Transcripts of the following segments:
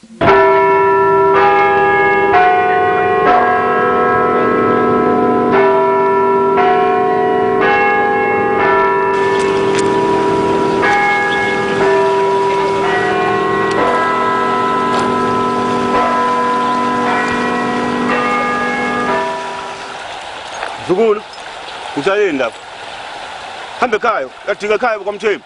Zukulu, uthayeni lapho? Hambe ekhaya, uyadinga ekhaya kwaMthembu.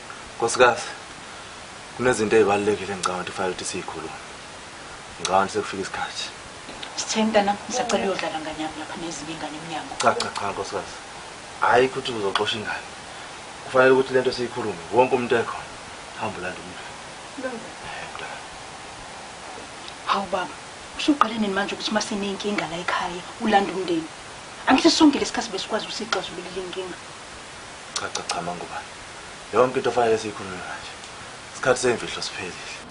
Nkosikazi, kunezinto ezibalulekile ngicabanga ukuthi kufanele ukuthi siyikhulume. Ngicabanga ukuthi sekufika isikhathi. Sitheni mntana, ngisacela uyodlala ngane yami lapha nezinye ingane emnyango. Cha cha cha nkosikazi. Hayi ukuthi uzoxosha ingane. Kufanele ukuthi lento siyikhulume. Wonke umuntu ekhona. Hamba ulanda umuntu. Londla. Eh mntana. Hawu baba, usuqale nini manje ukuthi uma sinenkinga la ekhaya ulanda umndeni? Angithi sonke lesikhathi besikwazi ukusixazulula inkinga. Cha cha cha mangubane. Yonke into fanele siyikhulume manje. Isikhathi semfihlo siphelile.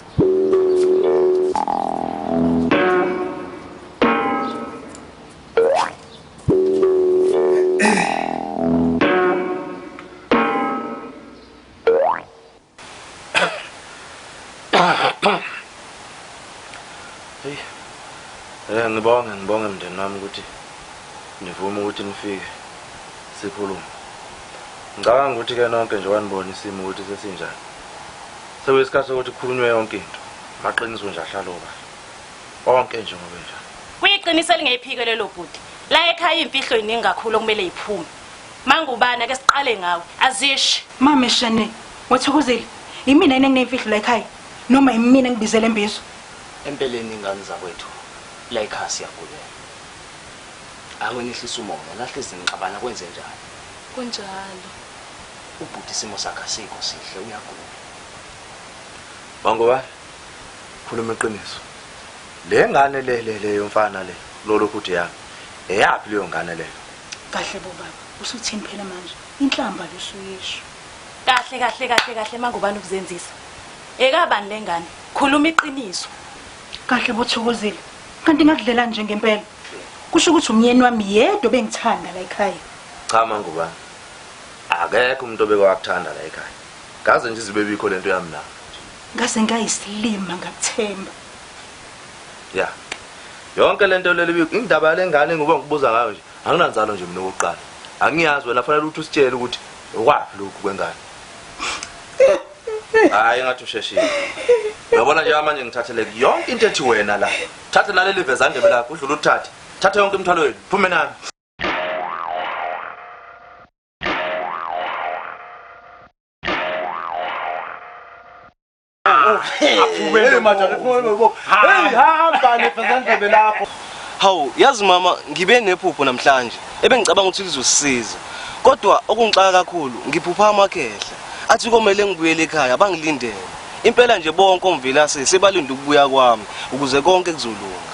Hey. Eh ngibonge ngibonge mndeni wami ukuthi nivume ukuthi nifike sikhulume. Ngicabanga ukuthi ke nonke nje wanibona isimo ukuthi sesinjani. Sekuyisikhathi sokuthi kukhulunywe yonke into. Maqiniso nje ahlalo ba. Onke nje ngobe njalo. Kuyiqiniso elingephike lelo bhuti. La ekhaya imfihlo iningi kakhulu okumele iphume. Mangubane ake siqale ngawe. Azishi. Mame Shane, wathokozile. Yimina yini engineyimfihlo la ekhaya? Noma yimina ngibizele embizo? Empeleni ingane zakwethu la ekhaya siyagulela. Ake nehlise umoya, nahlezi nixabana kwenze njani? Kunjalo. Ubhuti isimo sakhe asikho sihle uyagula. Mangubane, khuluma iqiniso. Le ngane le le le yomfana le lolokhu uthi yami. Eyaphi leyo ngane leyo? Kahle bo baba, usuthini phela manje? Inhlamba lo usuyisho. Kahle kahle kahle kahle mangubani ukuzenzisa. Ekabani lengane? Khuluma iqiniso. Kahle bo Thokozile. Kanti ngakudlela nje ngempela. Kusho ukuthi umyeni wami yedwa bengithanda la ekhaya. Cha mangubani. Akekho umuntu obeke wakuthanda la ekhaya. Kaze nje izibebikho lento yami la. Ngaze ngayisilima ngakuthemba. ya yonke lento leli indaba yalengane ngoba ngibuza ngayo nje anginanzalo nje mina okokuqala angiyazi wena fanele ukuthi usitshele ukuthi okwaphi lokhu kwengane hayi ngathi usheshile uyabona nje manje ngithathele yonke into ethi wena la thathe naleli vezandebe lakho udlula uthathe thathe yonke imithwalo yenu phume nami hawu yazi mama ngibe nephupho namhlanje ebengicabanga ukuthi lizosisiza kodwa okungixaka kakhulu ngiphupha amakhehla athi komele ngibuyele ekhaya bangilindele impela nje bonke omvelase sebalinde ukubuya kwami ukuze konke kuzolunga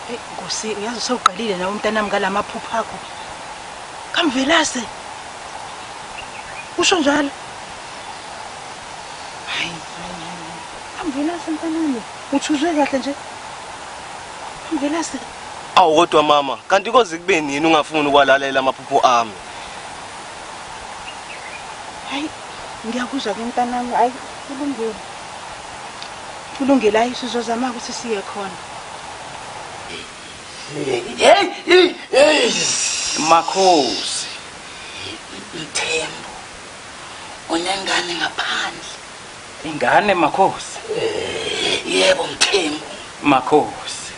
Hey Nkosi ngiyazi sewuqalile nawe umntanami ngalamaphupho akho. Kamvelase. Usho njalo. hayi hayi hayi amvelase mntanami uthuzwe kahle nje amvelase awu kodwa mama kanti koze kube nini ungafuni ukwalalela amaphupho ami hayi ngiyakuzwa ke mntanami hayi kulungile kulungile hayi sizozama ukuthi siye khona makhosi ithemba unengane ngaphandle ingane makhosi yebo mthembu makhosi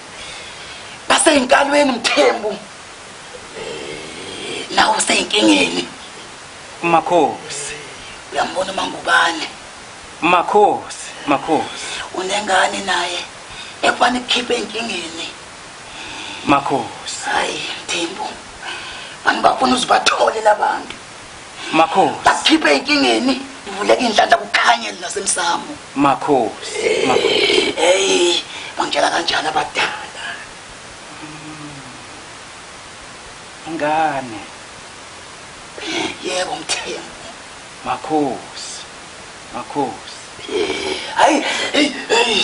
baseyinkalweni mthembu nawo useyinkingeni makhosi uyambona umangubane makhosi makhosi unengane naye ekubani kukhiphe enkingeni makhosi hayi mthembu bantu bafuna uzibathole labantu Makhosi. Bakhiphe inkingeni ivuleke inhlanhla kukhanye nasemsamo. Makhosi. Makhosi. Hey, bangitshela kanjani abadala? Ingane. Yebo mthembu. Makhosi. Makhosi. Hayi, hey, hey.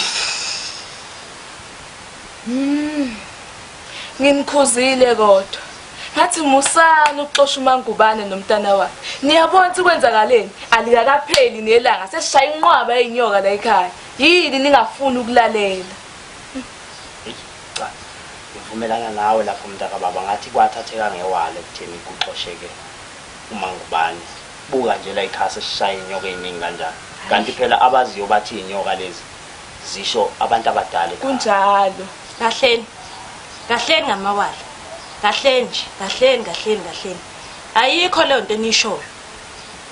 Mm. Nginikhuzile kodwa. Ngathi musani ukuxosha uMangubane nomntana wakhe. Niyabona ukuthi kwenzakaleni? Alikakapheli nelanga sesishaya inqwaba yeinyoka la ekhaya. Yini ningafuni ukulalela? Cha. Ngivumelana nawe lapho mntaka baba ngathi kwathatheka ngewale kutheni kuxosheke uMangubane. Buka nje la ekhaya sesishaya inyoka eziningi kanjani. Kanti phela abaziyo bathi inyoka lezi. zisho abantu abadala ekhaya. Kunjalo. Kahleni. Kahleni ngamawala. Kahleni nje, kahleni, kahleni, kahleni. Ayikho leyo nto enishoyo.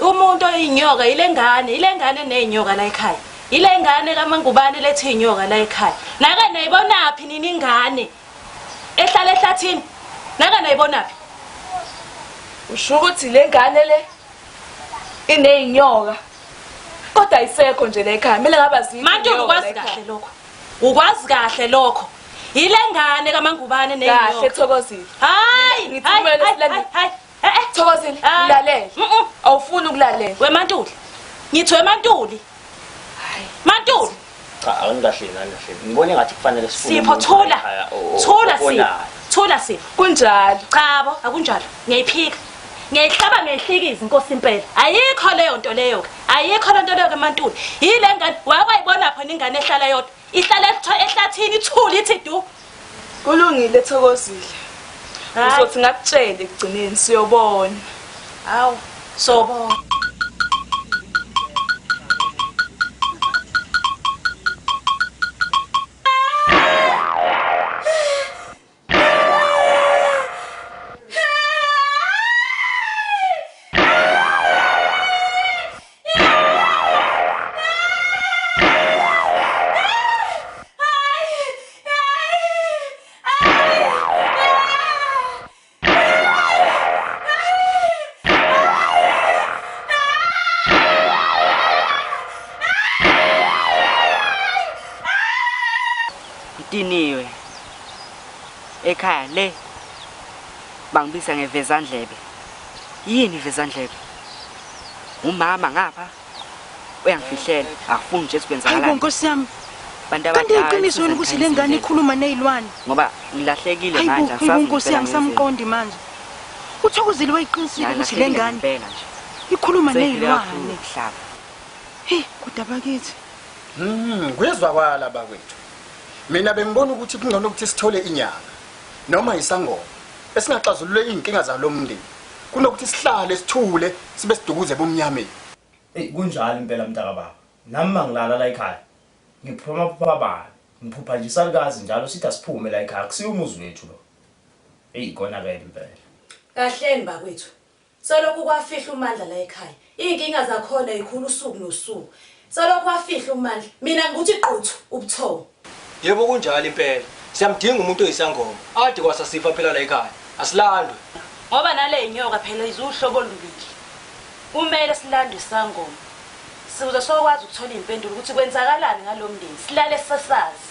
Umuntu oyinyoka yile ngane, yile ngane nezinyoka la ekhaya. Yile ngane kaMangubane lethi inyoka la ekhaya. Naka nayibonaphi nina ingane? Ehlala ehlathini. Naka nayibonaphi? Usho ukuthi le ngane le inezinyoka. kodwa ayisekho nje le ekhaya kumele ngaba zini Manje neyona ukwazi ekhaya. kahle lokho. Ukwazi kahle lokho. Yile ngane kamangubane kahle neyiyo. thokozile Hayi, Ngithi hayi, kumele hayi, silande. hayi, hayi. Eh, eh. thokozile Ah. lalele Mm-mm. awufuni ukulalela We Mantuli. Ngithi we Mantuli. Mantuli. Cha angikahle ngani kahle. Ngibona engathi kufanele sifune Sipho umuntu thula. ekhaya o- o- Thula Sipho. obonayo. Thula Sipho. Kunjalo. Chabo akunjalo. Ngiyayiphika. Ngiyayihlaba ngiyihlikiza inkosi impela. Ayikho leyo nto leyo ke. Ayikho le nto leyo ke mantuli. Yile ngane wayibona phona ingane ehlala yodwa. Ihlala etho- ehlathini ithuli ithi du. Kulungile Thokozile. Hayi. Uzothi ngakutshele ekugcineni siyobona. Hawu, sobona. ngidiniwe ekhaya le bangibiza ngevezandlebe yini ivezandlebe Umama ngapha uyangifihlela akufuni nje sikwenzakala. Hayi nkosi yami. Bantu abadala. Kanti iqiniso yini ukuthi lengane ikhuluma nezilwane? Ngoba ngilahlekile manje asazi. Hayi nkosi yami samqondi manje. Uthokozile wayiqinisile ukuthi lengane. Impela nje. Ikhuluma nezilwane. Hey, kodwa bakithi. Mhm, kuyezwakala bakwethu. Mina bengibona ukuthi kungcono ukuthi sithole inyanga noma isangoma esingaxazulula izinkinga zalomndeni. kunokuthi sihlale sithule sibe sidukuze ebumnyameni Eyi kunjalo impela mntakababa nami mangilala la ekhaya ngiphuma phupha bani ngiphupha nje isalukazi njalo sithi asiphume la ekhaya akusiwo umuzi wethu lo Eyi konakele impela Kahleni bakwethu. Selokhu kwafihla uMandla la ekhaya, Iy'nkinga zakhona y'khula usuku nosuku. Selokhu wafihlwa uMandla, mina ngibuthi quthu ubuthongo. Yebo kunjalo impela. Siyamdinga umuntu oyisangoma. Ade kwasa sifa phela la ekhaya. Asilandwe. Ngoba nale nyoka phela iziwuhlobo olubili. Kumele silandwe isangoma. Siwuze sokwazi ukuthola iy'mpendulo ukuthi kwenzakalani ngalo mndeni, silale sesazi.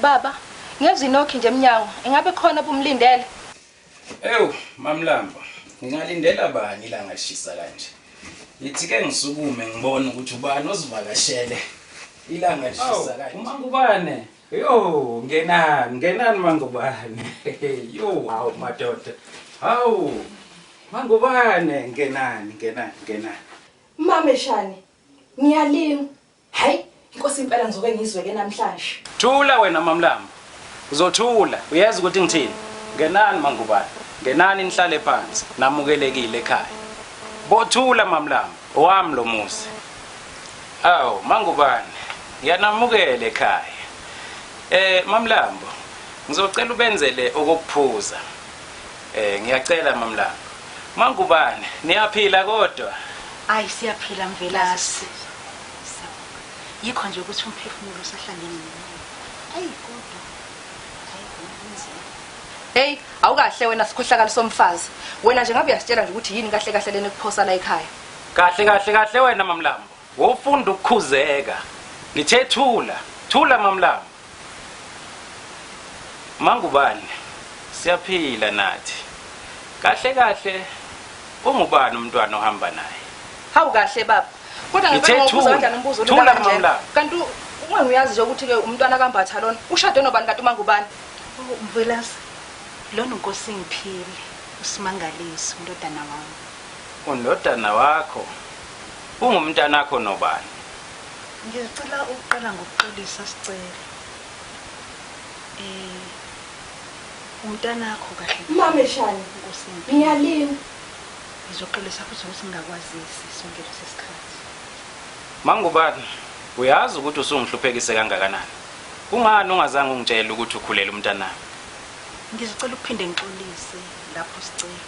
Baba, ngezwa inokhi nje emnyango. Ingabe khona obumlindele? Ewu, Mamlambo, ngingalindela bani ilanga lishisa kanje? Ngithi ke ngisukume ngibone ukuthi ubani ozivakashele ilanga lishisa kanje. Awu, uMangubane. Yo, ngenani, ngenani Mangubane. Yo, hawu madoda. Hawu. Mangubane, ngenani, ngenani, ngenani. Mameshane, ngiyalima. Hay inkosi impela ngizoke ngizweke namhlanje. Thula wena mamlambo. Uzothula uyazi ukuthi ngithini. Ngenani mangubane. Ngenani nihlale phansi namukelekile ekhaya. Bothula mamlambo owami lo muzi. Awu mangubane ngiyanamukela ekhaya. Eh mamlambo ngizocela ubenzele okokuphuza. Eh ngiyacela mamlanga. Mangubane, niyaphila kodwa? Ayi siyaphila Mvelase. Yikho nje ukuthi umphefumulo usahlangene nawe. Ayi kodwa. Ayi kunzima. Hey, awukahle wena sikhohlakali somfazi. Wena nje ngabe uyasitshela nje ukuthi yini kahle kahle lena ekuphosa la ekhaya. Kahle kahle kahle wena mamlambo. Wofunda ukukhuzeka. Ngithe thula, thula mamlamba. Mangubane, siyaphila nathi. Kahle kahle ungubani umntwana ohamba naye? Hawu kahle baba. Kodwa Ngithe ngicela ukubuza thula, kanjani umbuzo thula olula kanje. mamlanga. Kanti u- uma ngiyazi nje ukuthi ke umntwana kaMbatha lona ushade nobani kanti umangubani? Mvelase, lona uNkosi Ngiphile, uSimangaliso, indodana wami. Undodana wakho? Ungumntanakho nobani? Ngicela ukuqala ngokuxolisa sicelo. Eh umntanakho kahle. Mameshane Nkosi yami. Ngiyalima. Ngizoxolisa futhi ukuthi ngingakwazisi sonke lesi sikhathi. Mangubani, uyazi ukuthi usungihluphekise kangakanani. Kungani ungazange ungitshele ukuthi ukhulela umntanami? Ngizocela ukuphinde ngixolise lapho sicela.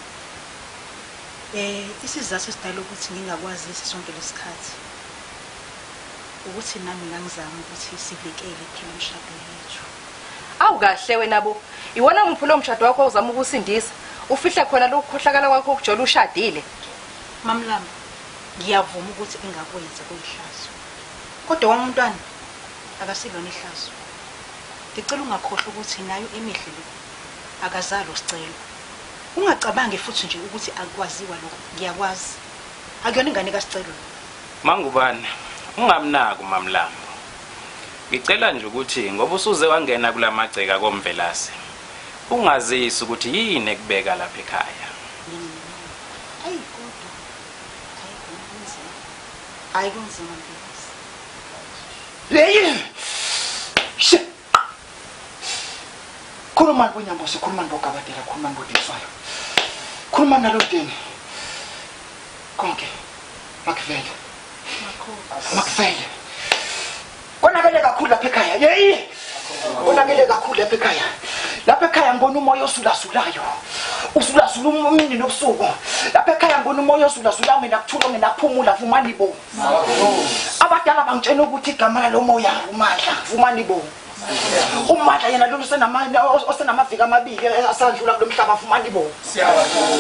Eh isizathu esidala ukuthi ngingakwazisi sonke lesikhathi ukuthi nami ngangizama ukuthi sivikele kuphela imshado yethu. Awu kahle wena bo. Iwona muphi lo mshado wakho ozama ukusindisa? Ufihle khona lokukhohlakala kwakho ukujola ushadile. Mamlama, ngiyavuma ukuthi engakwenza kuyihlazo. Kodwa wami umntwana akasilona ihlazo. Ngicela ungakhohlwa ukuthi nayo emihle le akazalo sicelo. Ungacabangi futhi nje ukuthi akwaziwa lokho. Ngiyakwazi. Akuyona ingane kaSicelo lo. Mangubane, ungamnaki uMamlambo. Ngicela nje ukuthi ngoba usuze wangena kulamagceka koMvelase, ungazisi ukuthi yini ekubeka lapha ekhaya. Ayi kodwa. Ayi kunzima. Ayi kunzima Mvelase. Hey! Khuluma kunyambosi, khuluma nobogabadela, khuluma nobodiswayo. Khuluma nalo deni. Konke makuvele. Makuvele. Konakele kakhulu lapha ekhaya. Yeyi. Konakele kakhulu lapha ekhaya. Lapha ekhaya ngibona umoya osulasulayo. Usulasula umini nobusuku. Lapha ekhaya ngibona umoya osulasulayo mina kuthula mina kuphumula vumani bo. abadala bangitshela ukuthi igama lalo moya umandla ngifumana ibomu umandla yena lona osenamaviki amabili asandlula kulo mhlaba afumana ibomu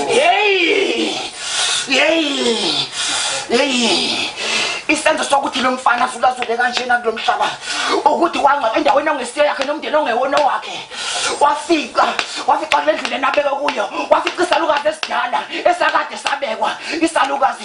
yeyi yeyi yeyi isenzo sokuthi lo mfana asulazule kanjena kulo mhlaba ukuthi wangcwaba endaweni ongesiyo yakhe nomndeni ongewona wakhe wafica wafica kule ndlela enabeke kuyo wafica isalukazi esidala esakade sabekwa isalukazi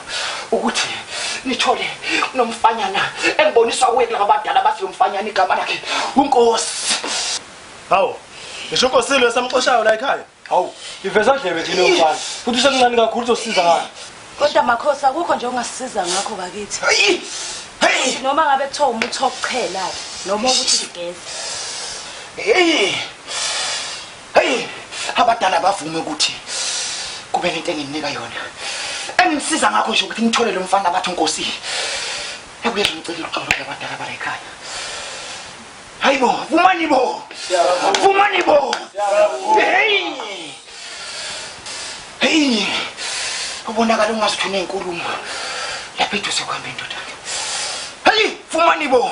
ukuthi nithole kunomfanyana engiboniswa kuye kulaba badala abathi lo mfanyana igama lakhe unkosi hawu ngisho unkosi lo esamxoshayo la ekhaya hawu iveza ndlebe thina mfana futhi usemncane kakhulu uzosiza ngani kodwa makhosi akukho nje ongasisiza ngakho bakithi hey noma ngabe kuthiwa umuthi wokuchela noma ukuthi sigeze hey heyi abadala bavume ukuthi kube nento enginginika yona engisiza ngakho nje ukuthi ngithole lo mfana abathi unkosi ekuyeza ngicela uxolo abadala bala ekhaya hayi bo vumani bo vumani bo heyi Hey! Ubonakala ungazi ukuthi unenkulumo. Lapha eduze kwami indoda. Hey, fumani bo.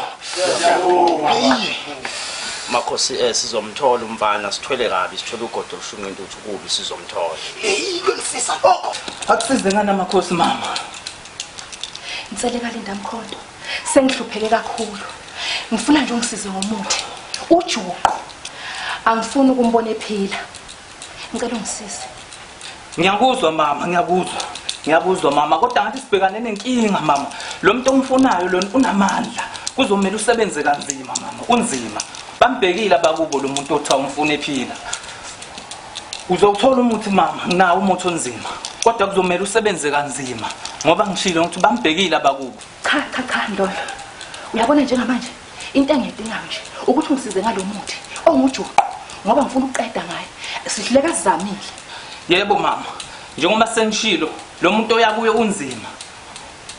Siyabonga. Hey. Makhosi eh sizomthola umfana sithwele kabi sithwele ugodo lushunqa intuthu kubi sizomthola. Hey, kulifisa lokho. Akusize ngani amakhosi mama. Ngicele kalinda mkhondo. Sengihlupheke kakhulu. Ngifuna nje ungisize ngomuthi. Ujuqo. Angifuni ukumbona ephila. ngicela ungisize ngiyakuzwa mama ngiyakuzwa ngiyakuzwa mama kodwa ngathi sibhekane nenkinga mama lo muntu omfunayo lona unamandla kuzomele usebenze kanzima mama unzima bambhekile abakubo lo muntu othiwa umfuna ephila uzowuthola umuthi mama nginawo umuthi onzima kodwa kuzomele usebenze kanzima ngoba ngishilo ukuthi bambhekile abakubo Cha cha cha Ndolo. Uyabona njengamanje into engiyidingayo nje ukuthi ungisize ngalomuthi ongujuqu ngoba ngifuna ukuqeda ngaye. Sihluleka sizamile. Yebo mama. Njengoba sengishilo lo muntu oyakuye unzima.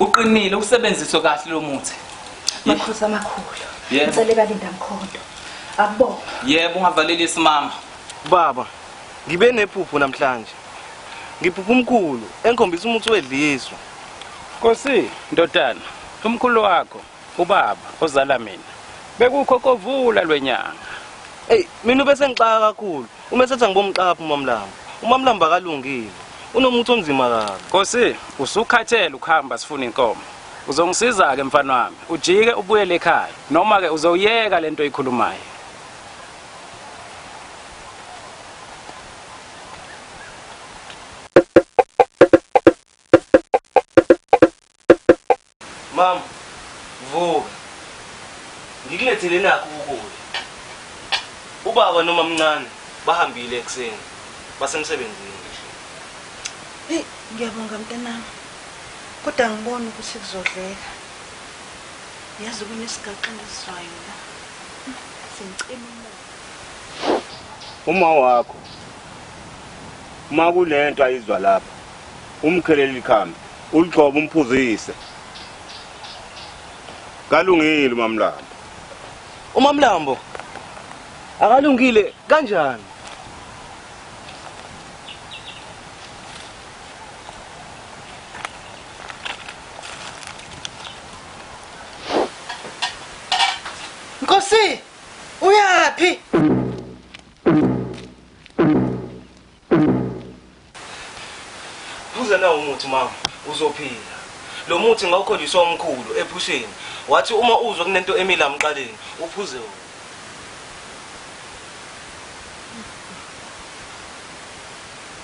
Uqinile usebenziswe kahle lo muthi. Makhosi amakhulu. Ngicela kalinda mkhondo. Akubonga. Yebo ungavaleli isimama. Baba, ngibe nephupho namhlanje. Ngiphupha umkhulu engikhombisa umuthi wedliswa. Nkosi, ndodana, umkhulu wakho, ubaba ozala mina, bekukho kovula lwenyanga. Ey, mina ube sengixaka kakhulu. Uma esethi angibomxaphi uMamlanga. UMamlanga akalungile. Unomuthi onzima kabi. Nkosi, usukhathele ukuhamba sifuna inkomo. Uzongisiza ke mfana wami, ujike ubuyele ekhaya noma ke uzoyeka lento oyikhulumayo. Mama, vuka. Ngikulethele nakho ukudla. Ubaba nomamncane bahambile ekuseni. Basemsebenzini. Hey, ngiyabonga mntanami. Kodwa ngibona ukuthi kuzodleka. Yazi kunesigaxa ngisizwayo la. Sengicela umoya. Uma wakho. Uma kulento ayizwa lapha. Umkhelele ikhambi, uligcobe umphuzise. Kalungile uMamlambo. UMamlambo akalungile kanjani? Nkosi, uyaphi? Phuza nawo umuthi mama, uzophila. Lo muthi ngawukhonjiswa umkhulu ephusheni. Wathi uma uzwa kunento emila mqaleni, uphuze wona.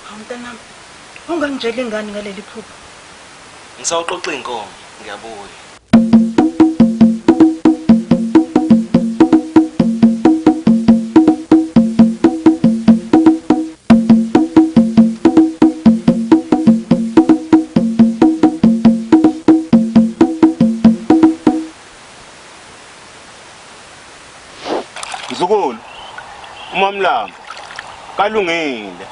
Hawu mntanami, ungangitsheli ngani ngaleli phupho? Ngisawuxoxa inkomo, ngiyabuya. Mzukulu uMamlambo kalungile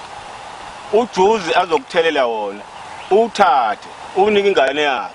ujuzi azokuthelela wona uthathe unike ingane yakhe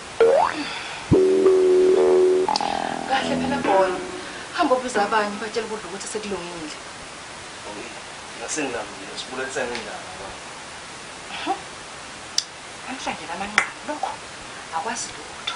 Kahle phela boy. Hamba ubize abanye ubatshele ukudla ukuthi sekulungile. Okay. Ngasengilambile sibulalisane indaba manje. Namhlanje lamanqamu lokho akwazi lutho.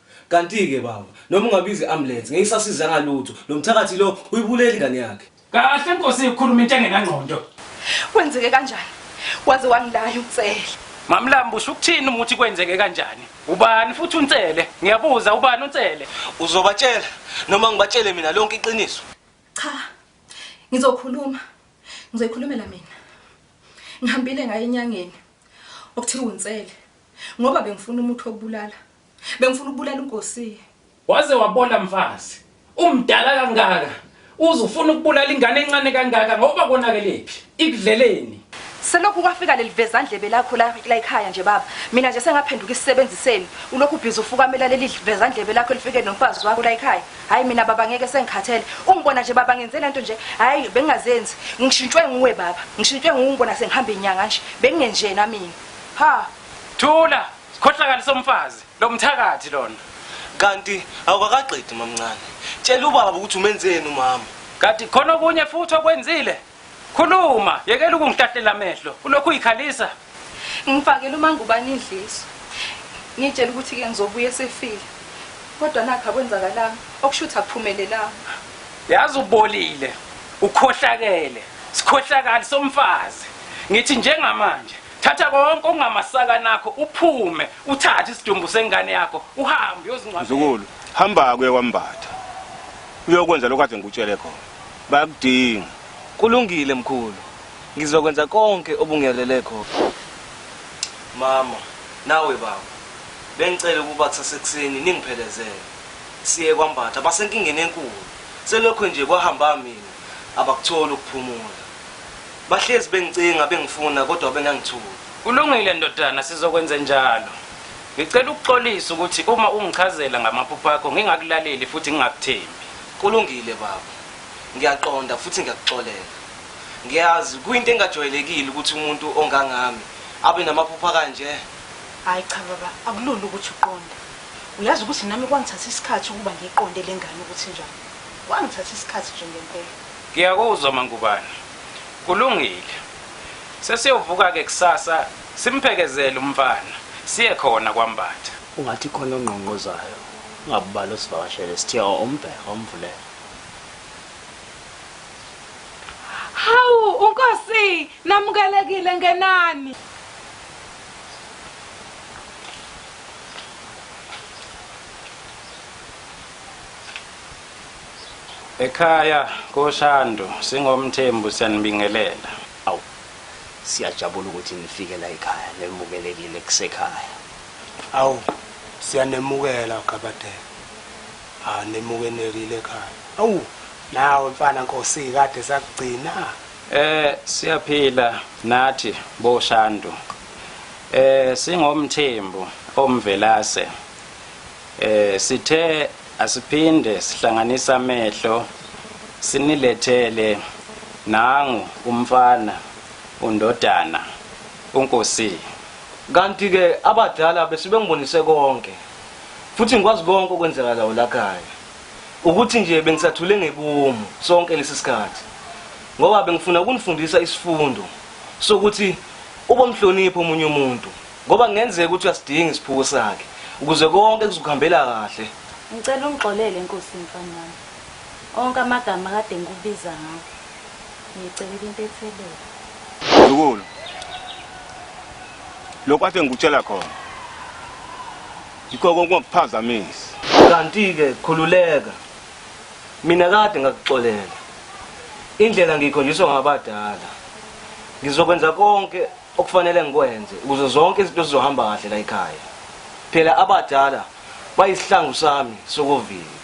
Kantike baba noma ungabiza i ambulance ngeke isasizanga lutho lomthakathi lo uyibuleli ingane yakhe. Kahle nkosi ikhuluma into engenangqondo. Kwenzeke kanjani? Waze wangilaya uNtsele. Mamlambo usho ukuthini uma uthi kwenzeke kanjani? Ubani futhi uNtsele? Ngiyabuza ubani uNtsele? Uzobatshela noma ngibatshele mina lonke iqiniso? Cha. Ngizokhuluma. Ngizoyikhulumela mina. Ngihambile ngaye enyangeni okuthiwa uNtsele ngoba bengifuna umuthi wokubulala Bengifuna ukubulala uNkosie. Waze wabola mfazi. Umdala kangaka. Uze ufuna ukubulala ingane encane kangaka ngoba konakelephi? Ikudleleni? Selokhu kwafika lelivezandlebe lakho la ekhaya nje baba. Mina nje sengaphenduka isisebenzi senu. Ulokhu ubhizi ufukamela leli livezandlebe lakho elifike nomfazi wakho la ekhaya. Hayi mina baba ngeke sengikhathele. Ungibona nje baba ngenze lento nje. Hayi bengingazenzi. Ngishintshwe nguwe baba. Ngishintshwe nguwe ngibona sengihamba inyanga nje. Bengingenjena mina. Ha! Thula! Skhohlakali somfazi, lo mthakathi lona. Kanti awukakaqedi mamncane. Tshela ubaba ukuthi umenzeni umama. Kanti khona okunye futhi okwenzile? Khuluma, yekela ukungihlahlela amehlo. Ulokhu uyikhalisa. Ngifakele umangubani idliso. Ngitshela ukuthi ke ngizobuya esefile. Kodwa nakho akwenzakalanga, okushuthi akuphumelelanga. Yazi ubolile, ukhohlakele, sikhohlakali somfazi. Ngithi njengamanje Thatha konke okungamasaka nakho uphume uthathe isidumbu sengane yakho uhambe uyozingcwabela. Mzukulu, hamba kuye kwambatha. Uyokwenza lokho ade ngikutshele khona. Bayakudinga. Kulungile mkhulu. Ngizokwenza konke obungiyalele khona. Mama, nawe baba. Bengicela ukuba kusasekuseni ningiphelezele. Siye kwambatha basenkingeni enkulu. Selokho nje kwahamba mina abakutholi ukuphumula. Bahlezi bengicinga bengifuna kodwa bengangithuli. Kulungile ndodana sizokwenzenjalo. Ngicela ukuxolisa ukuthi uma ungichazela ngamaphupho akho ngingakulaleli futhi ngingakuthembi. Kulungile baba. Ngiyaqonda futhi ngiyakuxolela. Ngiyazi kuyinto engajwayelekile ukuthi umuntu ongangami abe namaphupho akanje. Hayi cha baba, akulula ukuthi uqonde. Uyazi ukuthi nami kwangithatha isikhathi ukuba ngiqonde lengane ukuthi njani. Kwangithatha isikhathi nje ngempela. Ngiyakuzwa MaNgubane. Kulungile. Sesiyovuka-ke kusasa simphekezele umfana, siye khona kwaMbatha. Ungathi khona ongqongqozayo ungabubali osivakashele sithe o umbhe omvulele. Hawu uNkosi! Namukelekile ngenani. Ekhaya koShandu singoMthembu siyanibingelela. Awu. Siyajabula ukuthi nifike la ekhaya nemukelekile kusekhaya. Awu siyanemukela Gabadela. Ah nemukenelile ekhaya. Awu nawe mfana Nkosi kade sakugcina. Eh siyaphila nathi boShandu. Eh singoMthembu omvelase. Eh sithe asiphinde sihlanganisa amehlo sinilethele nangu umfana undodana unkosi kanti ke abadala besibengibonise konke futhi ngikwazi konke okwenzakalayo lakhaya ukuthi nje bengisathule ngebomu sonke lesisikhathi ngoba bengifuna ukunifundisa isifundo sokuthi ubomhlonipho umunye umuntu Ngoba kungenzeka ukuthi uyasidinga isiphuko sakhe ukuze konke kuzokuhambela kahle. Ngicela ungixolele Nkosi mfana wami. Onke amagama kade ngikubiza ngawo. Ngicelela intethelelo. Zukulu. Lokho athe ngikutshela khona. Yikho konke okuphazamisa. Kanti ke khululeka. Mina kade ngakuxolela. Indlela ngikhonjiswa ngabadala. Ngizokwenza konke okufanele ngikwenze ukuze zonke izinto zizohamba kahle la ekhaya phela abadala bayisihlangu sami sokuvila